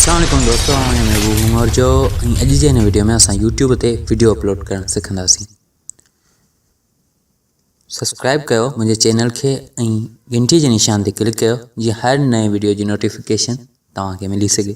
السلام عليڪم دوستو آء آهيان محبوب عمر جو ۽ اڄ جي هن ويڊيو ۾ اسان يوٽيوب تي ويڊيو اپلوڊ ڪرڻ سکنداسين سبسڪرائب ڪيو منهنجي چينل کي ۽ گھنٽي جي نشان تي ڪلڪ ڪيو جيئن هر نئين ويڊيو جي نوٽيفڪيشن توهان کي ملي سگھي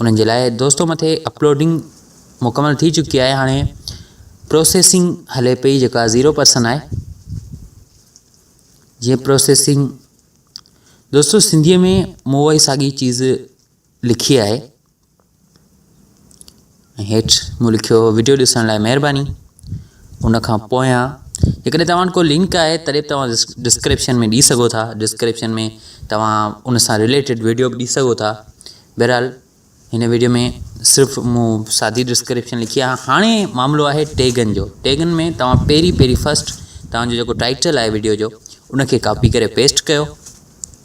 انهن جي لاء دوستو مٿي اپلوڊنگ مڪمل ٿي چڪي آهي هاڻي پروسيسنگ هلي پئي جيڪا زيرو پرسن آهي جيئن پروسيسنگ دوستو سنڌيء ۾ مون اهي ساڳي چيز لکي آهي ۽ هيٺ مون لکيو وڊيو ڏسڻ لاء مهرباني ان کان پويان جيڪڏهن توهان وٽ ڪو لنڪ آهي تڏهن به توهان ڊسڪرپشن ۾ ڏي سگهو ٿا ڊسڪرپشن ۾ توهان ان سان رليٽيڊ وڊيو به ڏي سگهو ٿا بهرحال هن وڊيو ۾ صرف مون سادي ڊسڪرپشن لکي آهي هاڻي معاملو آهي ٽيگن جو ٽيگن ۾ توهان پهرين پهرين فسٽ توهان جو جيڪو ٽائٽل آهي وڊيو جو ان کي ڪاپي ڪري پيسٽ ڪيو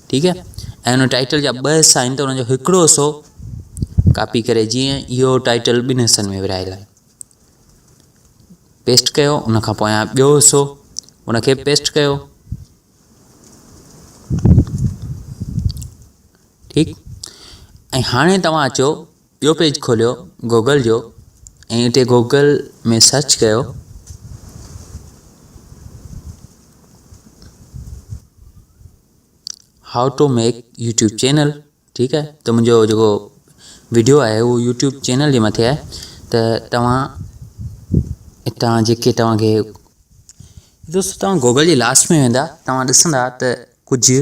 ٺيڪ آهي ۽ ان ٽائيٽل جا ٻه حصا آهن ته ان جو هڪڙو حصو ڪاپي ڪري جيئن اهو ٽائيٽل ٻن حصن ۾ ورهايل آهي پيسٽ ڪيو ان کان پويان ٻيو حصو ان کي پيسٽ ڪيو ٺيڪ ۽ هاڻي توهان اچو اهو پيج کوليو گوگل جو ۽ اتي گوگل ۾ سرچ ڪيو. How to make YouTube channel ٺيڪ آهي ته منهنجو جيڪو ويڊيو آهي اهو يوٽيوب چينل جي مٿي آهي ته توهان هتان جيڪي توهانکي دوستو توهان گوگل جي لاسٽ ۾ ويندا توهان ڏسندا ته ڪجهه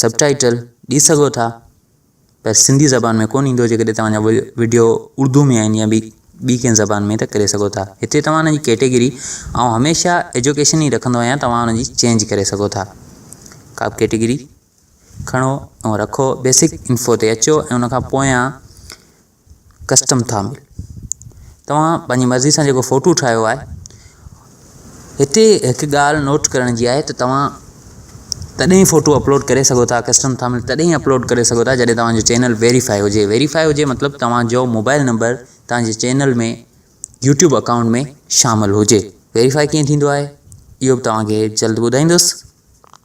سب ٽائيٽل ڏئي سگهو ٿا پر سنڌي زبان ۾ ڪون ايندو جيڪڏهن توهان جا وڊيو اردو ۾ آهن يا ٻي ٻي ڪنهن زبان ۾ ته ڪري سگهو ٿا هتي توهان جي ڪيٽيگري آئون هميشه ايجوڪيشن ئي رکندو آهيان توهان ان جي چينج ڪري سگهو ٿا ڪا به ڪيٽيگري کڻو ۽ رکو بيسڪ انفو تي اچو ۽ ان کان پويان ڪسٽم ٿا ملن توهان پنهنجي مرضي سان جيڪو فوٽو ٺاهيو آهي هتي هڪ ڳالهه نوٽ ڪرڻ جي آهي ته توهان تڏهن فوٽو اپلوڊ ڪري سگهو ٿا ڪسٽم ٿا ملن تڏهن اپلوڊ ڪري سگهو ٿا جڏهن توهانجو چينل ويريفائي هجي ويريفائي هجي مطلب توهانجو موبائل نمبر توهانجي چينل ۾ يوٽيوب اڪائونٽ ۾ شامل هجي ويريفائي ڪيئن ٿيندو آهي اهو به توهانکي جلد ٻڌائيندس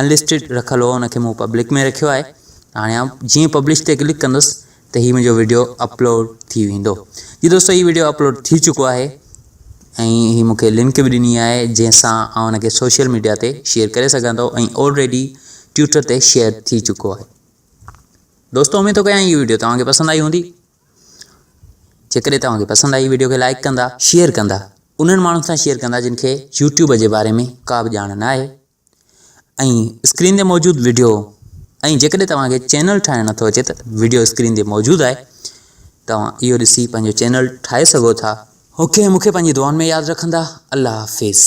انلسٽيڊ رکل هو ان کي مون پبلڪ ۾ رکيو آهي هاڻي آئون جيئن پبلش تي ڪلڪ ڪندس ته هي منهنجو ويڊيو اپلوڊ ٿي ويندو جي دوستو هي ويڊيو اپلوڊ ٿي چڪو آهي ۽ هي مونکي لنڪ به ڏني آهي جنهن سان آئون ان کي سوشل ميڊيا تي شيئر ڪري سگهان ٿو ۽ آلريڊي ٽويٽر تي شيئر ٿي چڪو آهي دوستو اميد ٿو ڪيان هي ويڊيو توهان کي پسند آئي هوندي جيڪڏهن توهان کي پسند آئي ويڊيو کي لائڪ ڪندا شيئر ڪندا انهن ماڻهن سان شيئر ڪندا جن کي يوٽيوب جي باري ۾ ڪا به ڄاڻ نه آهي ۽ اسڪرين تي موجود وڊيو ۽ جيڪڏهن توهان کي چينل ٺاهڻ نٿو اچي ته وڊيو اسڪرين تي موجود آهي توهان اهو ڏسي پنهنجو چينل ٺاهي سگهو ٿا اوڪي مون کي پنهنجي دعائن ۾ ياد رکندا الله حافظ